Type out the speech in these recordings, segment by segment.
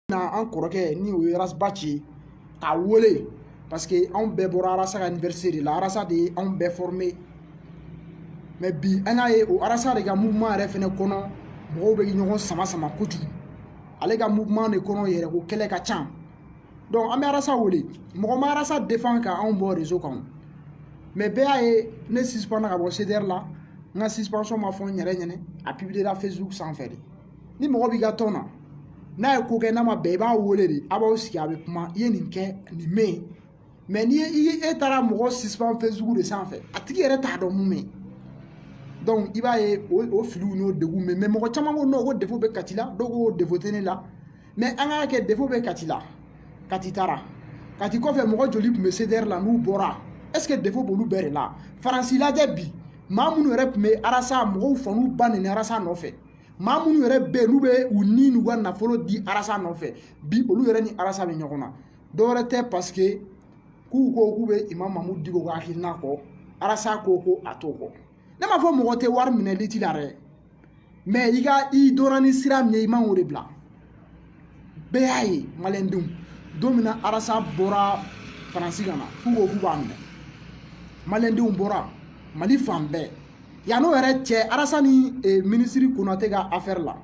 na an kɔrɔkɛ ni o ye arasaba ci k'a wele parce que anw bɛɛ bɔra arasa ka université de la arasa de ye anw bɛɛ formé mais bi an y'a ye o arasa de ka mouvement yɛrɛ fɛnɛ kɔnɔ mɔgɔw bɛ ɲɔgɔn sama sama kojugu ale ka mouvement de kɔnɔ yɛrɛ ko kɛlɛ ka ca donc an bɛ arasa wele mɔgɔ ma arasa défend ka anw bɔ réseau kan mais bɛɛ y'a ye ne suspendra ka bɔ cdr la n ka suspension ma fɔ n yɛrɛ ɲɛnɛ a publiera facebook sanfɛ de ni mɔgɔ b'i ka tɔn na n'a ye ko kɛ n'a ma bɛn i b'a wele de a b'aw sigi a bɛ kuma i ye nin kɛ nin mɛ yen mais n'i ye i ye e taara mɔgɔ suspend facebook de sanfɛ a tigi yɛrɛ t'a dɔn mun mɛ i b'a ye o filiw n'o degun mɛ mais mɔgɔ caman ko non ko défaut bɛ kati la dɔw ko défaut tɛ ne la mais an k'a kɛ défaut bɛ kati la kati taara kati kɔfɛ mɔgɔ joli tun bɛ cdr la n'u bɔra est ce que défaut b'olu bɛɛ de la faransi lajɛ bi maa minnu yɛrɛ tun bɛ arasa mɔgɔw fanba nin arasa nɔfɛ maa minnu yɛrɛ bɛ yen n'u bɛ u ni n'u ka nafolo di arasa nɔfɛ bi olu yɛrɛ ni arasa bɛ ɲɔgɔn na dɔwɛrɛ tɛ parce que k'u ko k'u bɛ imam mamudu diko ka hakilina kɔ arasa ko ko a t'o kɔ ne m'a fɔ mɔgɔ tɛ wari minɛ lutte la dɛ mais i ka i donna ni sira min ye i man k'o de bila bɛɛ y'a ye maliyɛndenw don min na arasa bɔra faransi ka na k'u ko k'u b'a minɛ maliyɛndenw bɔra mali fan bɛɛ yann'o yɛrɛ cɛ arasa ni minisiri konate ka affaire la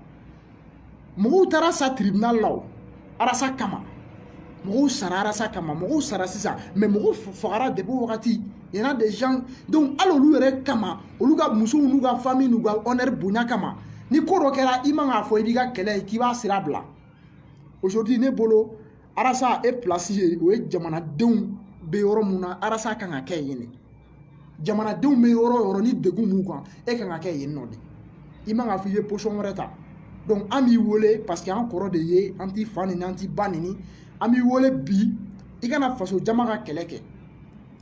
mɔgɔw taara sa tribunal la o arasa kama mɔgɔw sara arasa kama mɔgɔw sara sisan mais mɔgɔw fagara depuis wagati Il y en a des gens donc hali olu yɛrɛ kama olu ka musow n'u ka famille n'u ka honneur bonya kama ni ko dɔ kɛra i man k'a fɔ i b'i ka kɛlɛ ye k'i b'a sira bila aujourd'hui ne bolo arasa e place ye o ye jamanadenw bɛ yɔrɔ mun na arasa kan ka kɛ yen de jamanadenw bɛ yɔrɔ o yɔrɔ ni degun b'u kan e kan ka kɛ yen nɔ de i man k'a fɔ i bɛ position wɛrɛ ta donc an b'i wele parce que an kɔrɔ de ye an t'i fa nini an t'i ba nini an b'i wele bi i ka na faso jama ka kɛlɛ kɛ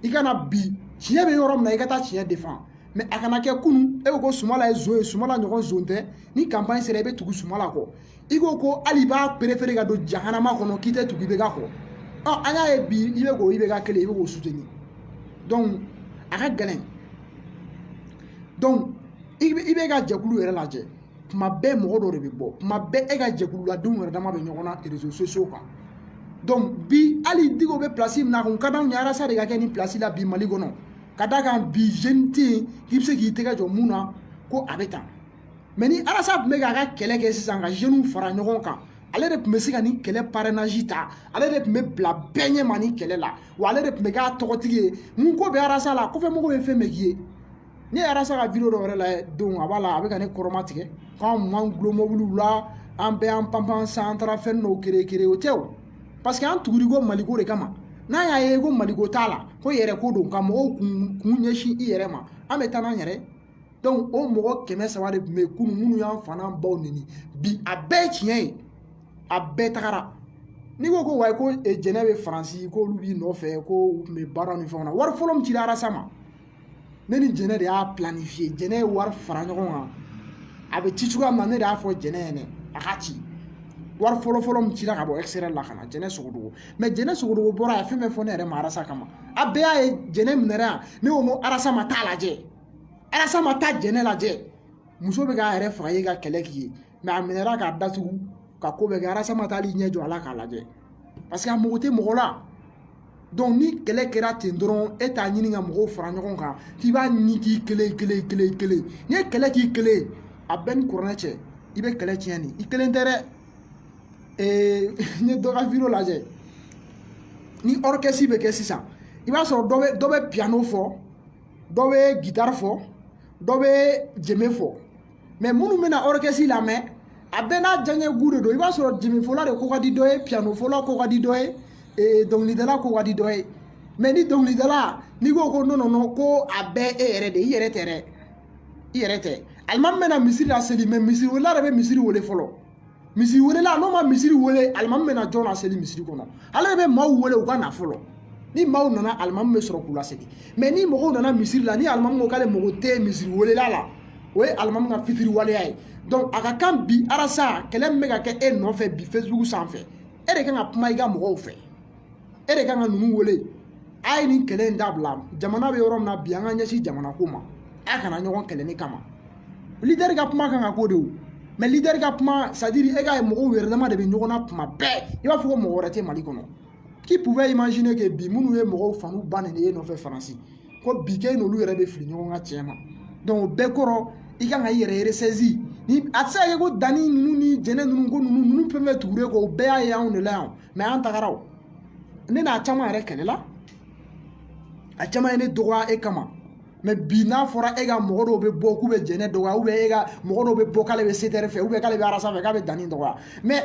i ka na bi tiɲɛ bɛ yɔrɔ min na i ka taa tiɲɛ défend mais a kana kɛ kunun e ko ko sumala ye zon ye sumala ɲɔgɔn zon tɛ ni campagne sera i bɛ tugu sumala kɔ i ko ko hali i b'a préférer ka don jahanama kɔnɔ k'i tɛ tugu ibk kɔ ɔ an y'a ye bi i bɛ k'o ibk kelen i bɛ k'o soutenir donc a ka gɛlɛn donc i b'e ka jɛkulu yɛrɛ lajɛ tuma bɛɛ mɔgɔ dɔ de bɛ bɔ tuma bɛɛ e ka jɛkululadenw yɛrɛ dama bɛ ɲɔgɔn na réseaux sociaux kan donc bi hali diko bɛ place min na a tun ka d'anw ye arasa de ka kɛ nin place la bi mali kɔnɔ ka d'a kan bi jeune tɛ yen k'i bɛ se k'i tɛgɛ jɔ mun na ko a bɛ tan mais ni arasa tun bɛ k'a ka kɛlɛ kɛ sisan ka jeunes fara ɲɔgɔn kan ale de tun bɛ se ka nin kɛlɛ parrainage ta ale de tun bɛ bila bɛɛ ɲɛ ma nin kɛlɛ la wa ale de tun bɛ k'a tɔgɔtigi ye mun ko bɛ arasa la kɔfɛmɔgɔw ye fɛn bɛɛ k'i ye ne ye arasa ka video dɔ yɛrɛ lajɛ don a b'a la a bɛ ka ne kɔrɔmatigɛ k'an man dulon mobiliw la an bɛɛ y'an panpan san an taara fɛn dɔw kere kere o tɛ o paseke an tugur'i kɔ maliko de kama n'a y'a ye ko maliko t'a la ko yɛrɛko don ka mɔgɔw kun kun ɲɛsin i yɛrɛ ma an bɛ taa n'an yɛrɛ donc o mɔgɔ kɛmɛ saba de tun bɛ yen kunun minnu y'an fa n'an baw neni bi a bɛɛ ye tiɲɛ ye a bɛɛ tagara n'i ko ko wayi ko jɛnɛ bɛ faransi k'olu b'i nɔfɛ ko u tun bɛ baara ni fɛnw na wari fɔlɔ min cira arasa ma ne ni jɛnɛ de y'a planifiye jɛnɛ ye wari fara ɲɔgɔn kan a bɛ ci cogoya min na ne de y'a fɔ jɛnɛ ɲɛna a ka ci wari fɔlɔ fɔlɔ min cira ka bɔ extérieur la ka na jɛnɛ sogodogo mɛ jɛnɛ sogodogo bɔra a ye fɛn bɛɛ fɔ ne yɛrɛ ma arasa kama a bɛɛ y'a ye jɛnɛ minɛra yan ne ko n ko arasa ma taa lajɛ arasa ma taa jɛnɛ lajɛ muso bɛ k'a yɛrɛ faga ye ka kɛlɛ k'i ye a minɛra k'a datugu ka ko bɛɛ kɛ arasa ma taa hali ɲɛ jɔ a la k'a lajɛ paseke a mago tɛ mɔgɔ la ni kɛlɛ kɛra ten dɔrɔn e t'a ɲini ka mɔgɔw fara ɲɔgɔn kan k'i b'a ɲini k'i kelen kelen kelen kelen n'i ye kɛlɛ k'i kelen a b'e ni kuranɛ cɛ i bɛ kɛlɛ tiɲɛ nin i kelen tɛ dɛ ee n ye dɔ ka video lajɛ ni orchestre bɛ kɛ sisan i b'a sɔrɔ dɔ bɛ dɔ bɛ piano fɔ dɔ bɛ guitare fɔ dɔ bɛ jeme fɔ mɛ minnu bɛna orchestre lamɛn a bɛɛ n'a diyaɲɛ goût de don i b'a sɔrɔ jemefɔla de ko ka di dɔ ye pianofɔla ko ka di dɔ ye ee dɔnkilidala ko ka di dɔ ye mɛ ni dɔnkilidala n'i ko ko non non non ko a bɛɛ e yɛrɛ de i yɛrɛ tɛ dɛ i yɛrɛ tɛ alimami bɛ na misiri laseli mɛ misiri welela de bɛ misiri wele fɔlɔ misiri welela n'o ma misiri wele alimami bɛ na jɔn laseli misiri kɔnɔ ale de bɛ maaw wele u ka na fɔlɔ ni maaw nana alimami bɛ sɔrɔ k'u laseli mɛ ni mɔgɔw nana misiri la ni alimami ko k'ale mago tɛ misiri welela la o ye alimami ka fitiriwaleya ye donc a ka kan bi arasa kɛlɛ min bɛ ka kɛ e nɔfɛ bi facebook sanfɛ e de kan ka kuma i ka mɔgɔw fɛ e de kan ka ninnu wele a ye nin kɛlɛ in dabila jamana bɛ yɔrɔ min na bi an ka ɲɛsin jamana ko ma a kana ɲɔgɔn kɛlɛ ne kama lidɛri ka kuma kan ka k'o de ye mɛ lidɛri ka kuma sadiri e ka mɔgɔw yɛrɛ dama de bɛ ɲɔgɔn na tuma bɛɛ i b'a fɔ ko mɔgɔ wɛrɛ tɛ mali kɔnɔ qui pouvait imaginer que bi minnu ye mɔgɔw fa n'u ba neni e nɔfɛ faransi ko bi kɛ n'olu yɛrɛ bɛ fili ɲɔgɔn kan tiɲɛ ma dɔnku o bɛɛ kɔrɔ i kan ka i yɛrɛ resɛzi ni a tɛ se ka kɛ ko dani ninnu ni jɛnɛ ninnu ko ninnu ninnu fɛn fɛn tugulen e kɔ o bɛɛ y'a ye anw de la yan mɛ an tagara o ne n'a caman yɛrɛ kɛlɛla a caman ye ne dɔgɔya e kama mɛ bi n'a fɔra e ka mɔgɔ dɔw bɛ bɔ k'u bɛ jɛnɛ dɔgɔya ou bien e ka mɔgɔ dɔw bɛ bɔ k'ale bɛ CDR fɛ ou bien k'ale bɛ arasa fɛ k'a bɛ dani dɔgɔya mɛ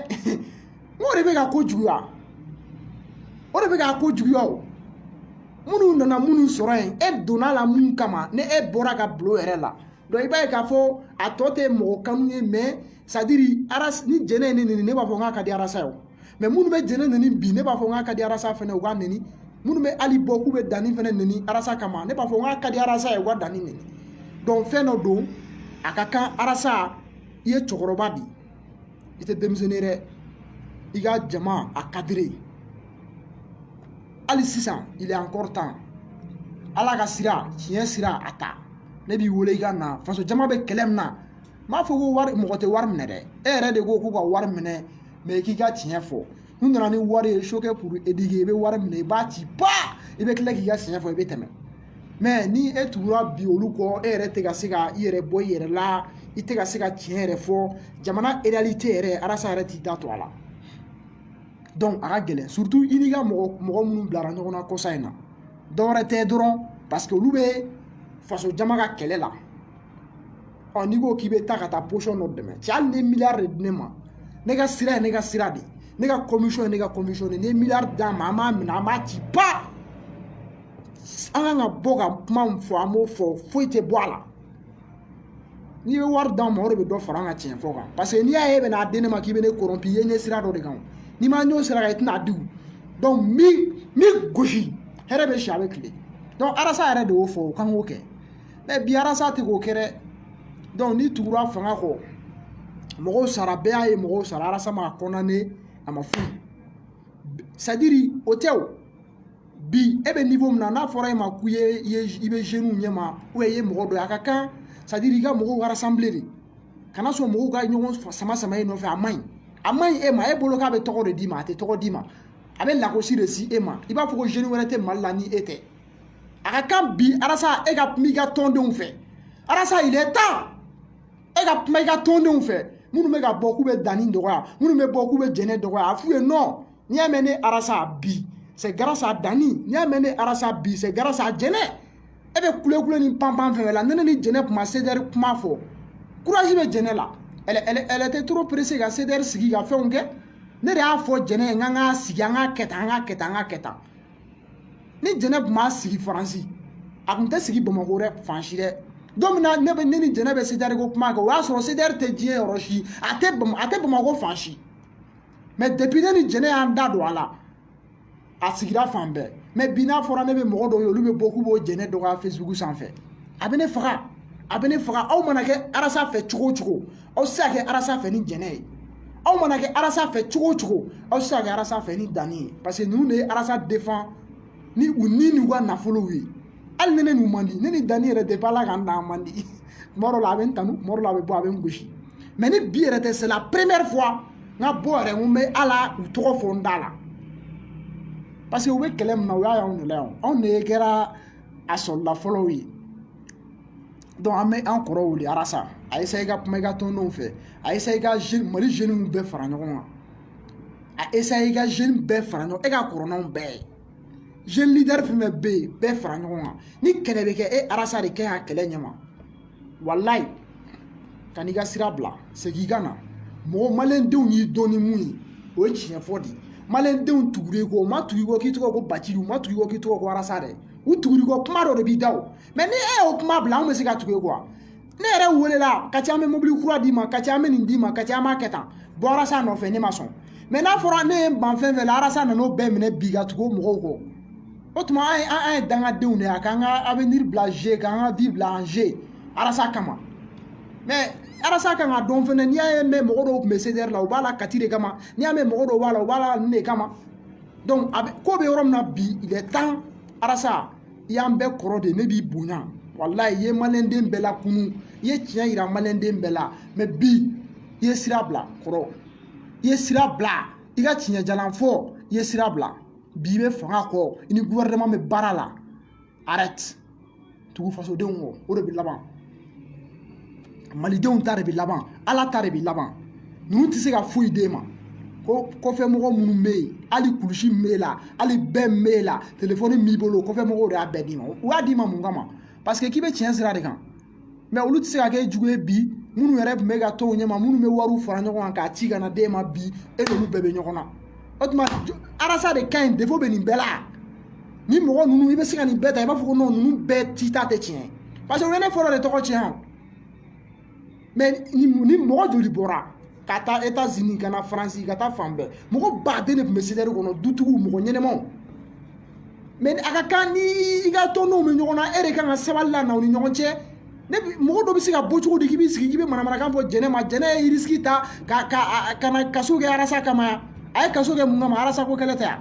n k'o de bɛ ka ko juguya o de bɛ ka ko juguya o minnu nana minnu sɔrɔ yen e donna la mun kama ni e bɔra ka bulon yɛrɛ la donc i b'a ye k'a fɔ a tɔ tɛ mɔgɔ kanu ye mais c'est à dire arasa ni jɛnɛ ye ne neni ne b'a fɔ n k'a ka di arasa ye o mais minnu bɛ jɛnɛ neni bi ne b'a fɔ n k'a ka di arasa fɛnɛ u k'a neni minnu bɛ hali bɔ k'u bɛ dani fɛnɛ neni arasa kama ne b'a fɔ n k'a ka di arasa ye u ka dani neni donc fɛn dɔ don a ka kan arasa i ye cɛkɔrɔba de i tɛ denmisɛnnin ye dɛ i ka jama encadrer hali sisan il est encore temps ala ka sira tiɲɛ sira a ta ne b'i wele i ka na faso jama bɛ kɛlɛ min na n m'a fɔ ko wari mɔgɔ tɛ wari minɛ dɛ e yɛrɛ de ko k'u ka wari minɛ mais i k'i ka tiɲɛ fɔ n'u nana ni wari ye choquer pour éduquer i bɛ wari minɛ i b'a ci ba i bɛ tila k'i ka tiɲɛ fɔ i bɛ tɛmɛ mais ni e tugura bi olu kɔ e yɛrɛ tɛ ka se ka i yɛrɛ bɔ i yɛrɛ la i tɛ ka se ka tiɲɛ yɛrɛ fɔ jamana réalité yɛrɛ arasa yɛrɛ t'i da to a la a ka gɛlɛn surtout i n'i ka mɔgɔ mɔgɔ minnu bilara ɲɔgɔn na kɔsa in na dɔwɛrɛ tɛ dɔrɔn parce que olu bɛ faso jama ka kɛlɛ la ɔ n'i ko k'i bɛ taa ka taa position dɔ dɛmɛ cɛ hali ni miliyari de di ne ma ne ka sira ye ne ka sira de ne ka conviction ye ne ka conviction de n'i ye miliyari d'an ma an b'a minɛ an b'a ci ba an kan ka bɔ ka kuma min fɔ an b'o fɔ foyi tɛ bɔ a la n'i bɛ wari d'an ma o de bɛ dɔ fara an ka tiɲɛ fɔ kan parce que n'i y'a ye e bɛn'a di ne ma k'i bɛ ne corrompre i ye n ye sira dɔ de kan n'i ma n ye sira kan i tɛn'a di min min gosi hɛrɛ bɛ si a bɛ kile arasa yɛrɛ de y'o fɔ o kan k'o kɛ mais bi arasa tɛ k'o kɛ dɛ n'i tugura fanga kɔ mɔgɔw sara bɛɛ y'a ye mɔgɔw sara arasa ma condamner a ma foyi c'est à dire o tɛ o bi e bɛ niveau min na n'a fɔra e ma k'i ye i ye i bɛ jeunes ɲɛ ma ou bien i ye mɔgɔ dɔ ye a ka kan c'est à dire i ka mɔgɔw rassembler de kana sɔn mɔgɔw ka ɲɔgɔn sama sama e nɔfɛ a man ɲi a man ɲi e ma e bolo k'a bɛ tɔgɔ de d'i ma a tɛ tɔgɔ d'i ma a bɛ lagosi de se e ma i b'a fɔ ko jeune wɛrɛ tɛ mali la ni e tɛ a ka kan bi arasa e ka kuma i ka tɔndenw fɛ arasa il est temps e ka kuma i ka tɔndenw fɛ minnu bɛ ka bɔ k'u bɛ dani dɔgɔya minnu bɛ bɔ k'u bɛ jɛnɛ dɔgɔya a f'u ye non n'i y'a mɛn ne arasa bi c'est grâce à dani n'i y'a mɛn ne arasa bi c'est grâce à jɛnɛ e bɛ kulekule ni panpan fɛn fɛn la ne ni jɛnɛ kuma sedɛri kuma fɔ courage bɛ jɛnɛ la elle elle elle était trop pressée ka sedɛri sigi ka fɛnw kɛ ne de y'a fɔ jɛnɛ ye n k'an k'a sigi an k'a kɛ tan an k'a kɛ tan an k'a kɛ tan ni jɛnɛ tun b'a sigi faransi a tun tɛ sigi bamakɔ dɛ fan si dɛ don min na ne bɛ ne ni jɛnɛ bɛ sedɛri ko kuma kɛ o y'a sɔrɔ sedɛri tɛ diɲɛ yɔrɔ si a tɛ a tɛ bamakɔ fan si mais depuis ne ni jɛnɛ y'an da don a la a sigira fan bɛɛ mais bi n'a fɔra ne bɛ mɔgɔ dɔw ye olu bɛ bɔ k'u b'o jɛnɛ dɔgɔya facebook sanfɛ a bɛ ne faga a bɛ ne faga aw mana kɛ arasa fɛ cogo o cogo aw tɛ se ka kɛ arasa fɛ ni jɛnɛ ye aw mana kɛ arasa fɛ cogo o cogo aw tɛ se ka kɛ arasa fɛ ni dani ye parce que ninnu de ye arasa défend ni u ni n'u ka nafolow ye hali ni ne n'u man di ne ni dani yɛrɛ de b'a la k'an da man di tuma dɔ la a bɛ n tanu tuma dɔ la a bɛ bɔ a bɛ n gosi mais ni bi yɛrɛ tɛ c'est la première fois n ka bɔ yɛrɛ n ko n bɛ ala u tɔgɔ fɔ n da la parce que u bɛ kɛlɛ min na u y'a y'anw de la yan anw de kɛra a sɔrɔla fɔlɔw ye donc an bɛ an kɔrɔ wele arasa a essaye ka kuma i ka tɔndenw fɛ a essaye ka mali jeunes bɛɛ fara ɲɔgɔn kan a essaye ka jeunes bɛɛ fara ɲɔgɔn e ka kɔrɔ n'anw bɛɛ ye jeune leader fɛn fɛn bɛ yen bɛɛ fara ɲɔgɔn kan ni kɛlɛ bɛ kɛ e arasa de kɛ y'a kɛlɛ ɲɛma walayi kan'i ka sira bila segin i ka na mɔgɔ maliyɛndenw y'i dɔn ni mun ye o ye tiɲɛ fɔ de ye maliyɛndenw tugura i kɔ u ma tugu i kɔ k'i tɔgɔ ko bacili u ma tugu i kɔ k'i tɔgɔ ko arasa dɛ u tugura i kɔ kuma dɔ de b'i da o mais ni e y'o kuma bila anw bɛ se ka tugu e kɔ wa ne yɛrɛ welela ka ca an bɛ mobili kura d'i ma ka ca an bɛ nin d'i ma ka ca an b'a kɛ tan bɔ arasa nɔfɛ ne ma sɔn mais n'a fɔra ne ye n ban fɛn fɛn la arasa nana o bɛɛ minɛ bi ka tugu mɔgɔw kɔ o tuma an ye an ye dangadenw de ye a k'an ka avenir bila jeu k'an ka vie bila en jeu arasa kama mais arasa kan k'a dɔn fɛnɛ n'i y'a ye mɛn mɔgɔ dɔw tun bɛ cdr la u b'a la kati de kama n'i y'a mɛn mɔgɔ dɔw b'a la u b'a la nin de kama donc a bɛ ko bɛ yɔrɔ min na bi il est temps arasa i y'an bɛɛ kɔrɔ de ne b'i bonya walayi i ye maliyɛnden bɛɛ lakunun i ye tiɲɛ yira maliyɛnden bɛɛ la mais bi i ye sira bila kɔrɔ i ye sira bila i ka tiɲɛ jalan fɔ i ye sira bila bi i bɛ fanga kɔ i ni gouvernement bɛ baara la arrête tugu fasodenw kɔ o de bɛ laban malidenw ta de bɛ laban ala ta de bɛ laban ninnu tɛ se ka foyi d'e ma ko kɔfɛmɔgɔ minnu bɛ yen hali kulusi min b'e la hali bɛɛ min b'e la telefɔni b'i bolo kɔfɛmɔgɔw de y'a bɛɛ d'i ma u y'a d'i ma mun kama parce que k'i bɛ tiɲɛ sira de kan mais olu tɛ se ka kɛ jugu ye bi minnu yɛrɛ tun b'e ka tɔn ɲɛma minnu bɛ wariw fara ɲɔgɔn kan k'a ci ka na d'e ma bi e n'olu bɛɛ bɛ ɲɔgɔn na o tuma arasa de ka ɲi défaut bɛ nin bɛɛ la ni mɔgɔ ninnu i bɛ se ka nin bɛɛ ta i b'a fɔ ko ninnu bɛɛ si ta tɛ tiɲɛ ye parce que o ye ne fɔlɔ de tɔgɔ tiɲɛ o mais ni mɔgɔ joli bɔra ka taa etazini ka na faransi ka taa fan bɛɛ mɔgɔ baden de tun bɛ cdr kɔnɔ dutigiw mɔgɔ ɲɛnɛmaw mais a ka kan ni i ka tɔndenw bɛ ɲɔgɔn na e de kan ka sabali lana aw ni ɲɔgɔn cɛ ne mɔgɔ dɔ bɛ se ka bɔ cogo di k'i b'i sigi k'i bɛ manamanakan fɔ jɛnɛ ma jɛnɛ ye irisiki ta ka ka ka na kaso kɛ arasa kama a ye kaso kɛ mun kama arasa ko kɛlɛ tɛ yan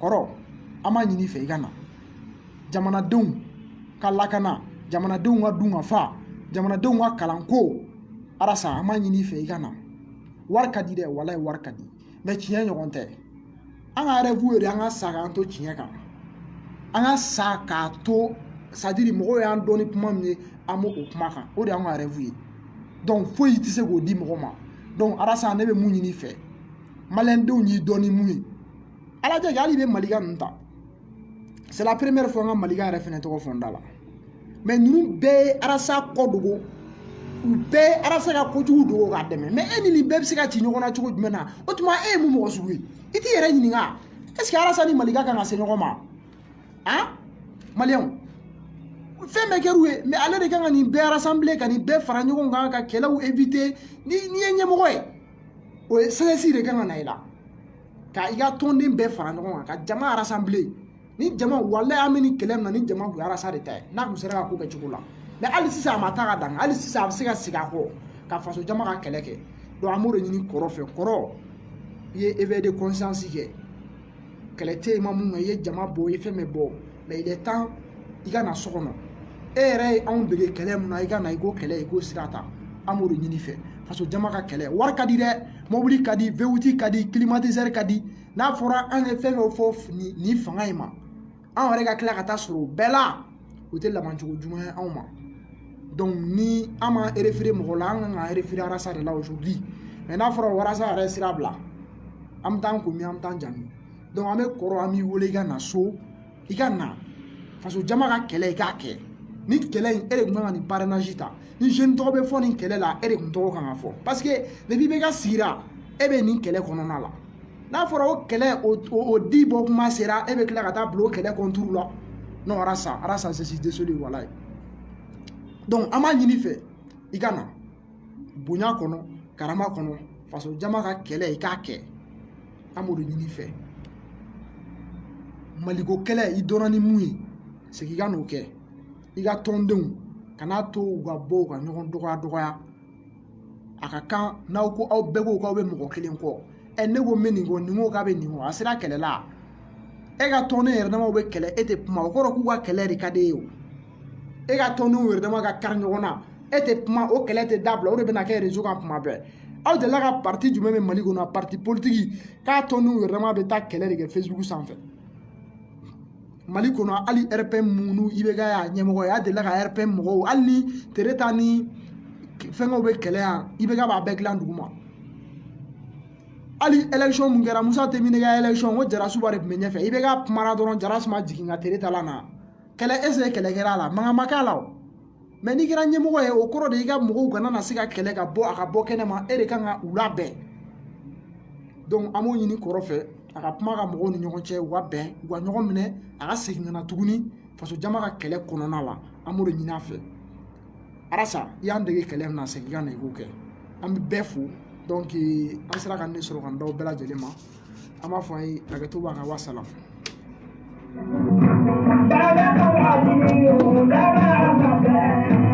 kɔrɔ an b'a ɲini fɛ i ka na jamanadenw ka lakana jamanadenw ka dun ka fa jamanadenw ka kalanko arasa an b'a ɲini fɛ i ka na wari ka di dɛ walayi wari ka di mais tiɲɛ ɲɔgɔn tɛ an ka rêve yɛrɛ an ka sa k'an to tiɲɛ kan an ka sa k'a to c'est à dire mɔgɔw y'an dɔn ni kuma min ye an b'o kuma kan o de y'an ka rêve ye donc foyi tɛ se k'o di mɔgɔ ma donc arasa ne bɛ mun ɲini fɛ maliyɛndenw y'i dɔn ni mun ye ala tɛ hali i bɛ maliga ninnu ta c'est la première fois n ka maliga yɛrɛ fɛnɛ tɔgɔ fɔ n da la mais ninnu bɛɛ ye arasa kɔ dogo u bɛɛ ye arasa ka kojugu dogo k'a dɛmɛ mais e ni nin bɛɛ bɛ se ka ci ɲɔgɔn na cogo jumɛn na o tuma e ye mun mɔgɔ sugu ye i t'i yɛrɛ ɲininka est ce que arasa ni maliga kan ka se ɲɔgɔn ma han maliyɛnw fɛn bɛɛ kɛr'u ye mais ale de kan ka nin bɛɛ rassembler ka nin bɛɛ fara ɲɔgɔn kan ka kɛlɛw éviter n'i ye ɲɛmɔgɔ ye o ye sagesse de kan ka na i la ka i ka tɔnden bɛɛ fara ɲɔgɔn kan ka jama rassembler ni jama walayi an bɛ nin kɛlɛ min na ni jama kun ye arasa de ta ye n'a kun sera ka ko kɛ cogo la mais hali sisan a ma taa ka dan hali sisan a bɛ se ka segin a kɔ ka faso jama ka kɛlɛ kɛ donc an b'o de ɲini kɔrɔ fɛ kɔrɔ i ye éveil de conscience kɛ kɛlɛ tɛ yen i ma min kɛ i ye jama bɔ i ye fɛn bɛɛ bɔ mais il est temps i ka na so kɔnɔ e yɛrɛ ye anw dege kɛlɛ min na i ka na i k'o kɛlɛ i k'o sira ta an b'o de ɲini fɛ faso jama ka kɛlɛ wari ka di dɛ mobili ka di V8 ka di kilimatizɛri ka di n'a fɔra an ye fɛn dɔ fɔ nin fanga in ma an yɛrɛ ka tila ka taa sɔrɔ o bɛɛ la o tɛ labancogo ɲuman ye anw ma donc ni an m'an référer mɔgɔ la an kan ka référer arasa de la aujourd'hui mais n'a fɔra ko arasa yɛrɛ sira bila an bɛ taa an komi an bɛ taa an janni donc an bɛ kɔrɔ an b'i wele i ka na so i ka na faso jama ka kɛlɛ i k'a kɛ nin kɛlɛ in e de tun kan ka nin parrainage ta ni jeune tɔgɔ bɛ fɔ nin kɛlɛ la e de tun tɔgɔ kan ka fɔ parce que depuis IBK sigira e bɛ nin kɛlɛ kɔnɔna la n'a fɔra o kɛlɛ o di bɔ kuma sera e bɛ tila ka taa bila o kɛlɛ kɔnturu la non arasa arasa je suis désolé walayi donc an b'a ɲini fɛ i ka na bonya kɔnɔ karama kɔnɔ faso jama ka kɛlɛ i k'a kɛ an b'o de ɲini fɛ maliko kɛlɛ i dɔnna ni mun ye segin i ka n'o kɛ i ka tɔndenw kan'a to u ka bɔ u ka ɲɔgɔn dɔgɔya dɔgɔya a ka kan n'aw ko aw bɛɛ ko k'aw bɛ mɔgɔ kelen kɔ ɛ ne ko n bɛ nin kɔ nin ko k'a bɛ nin kɔ a sera kɛlɛ la e ka tɔnden yɛrɛ damaw bɛ kɛlɛ e tɛ kuma o kɔrɔ k'u ka kɛlɛ de ka d'e ye o e ka tɔndenw yɛrɛ dama ka kari ɲɔgɔn na e tɛ kuma o kɛlɛ tɛ dabila o de bɛna kɛ rezo kan kuma bɛɛ aw delila ka pariti jumɛn bɛ mali kɔnɔ pariti politiki k'a tɔndenw yɛrɛ dama bɛ taa kɛlɛ de kɛ fesibuku sanfɛ mali kɔnɔ hali rpm minnu ibk y'a ɲɛmɔgɔ ye a delila ka rpm mɔgɔw hali ni tereta ni fɛnkɛw bɛ kɛlɛ yan ibk b'a bɛɛ dilan duguma hali election mun kɛra musa tɛnbinɛ ka election ko jarasuba de tun bɛ ɲɛfɛ ibk kumana dɔrɔn jarasuba jigin ka tereta la na kɛlɛ est-ce que kɛlɛ kɛra a la mankan ma k'a la o mais n'i kɛra ɲɛmɔgɔ ye o kɔrɔ de i ka mɔgɔw kana na se ka kɛlɛ ka bɔ a ka bɔ kɛnɛ ma e de kan ka u labɛn donc an b'o ɲini kɔrɔ fɛ a ka kuma ka mɔgɔw ni ɲɔgɔn cɛ u ka bɛn u ka ɲɔgɔn minɛ a ka segin ka na tuguni faso jama ka kɛlɛ kɔnɔna la an b'o de ɲini a fɛ arasa i y'an dege kɛlɛ min na segin ka na i k'o kɛ an bɛ bɛɛ fo an sera ka ne sɔrɔ ka n da bɛɛ lajɛlen ma an b'a fɔ a ye hakɛto b'a kan wa salam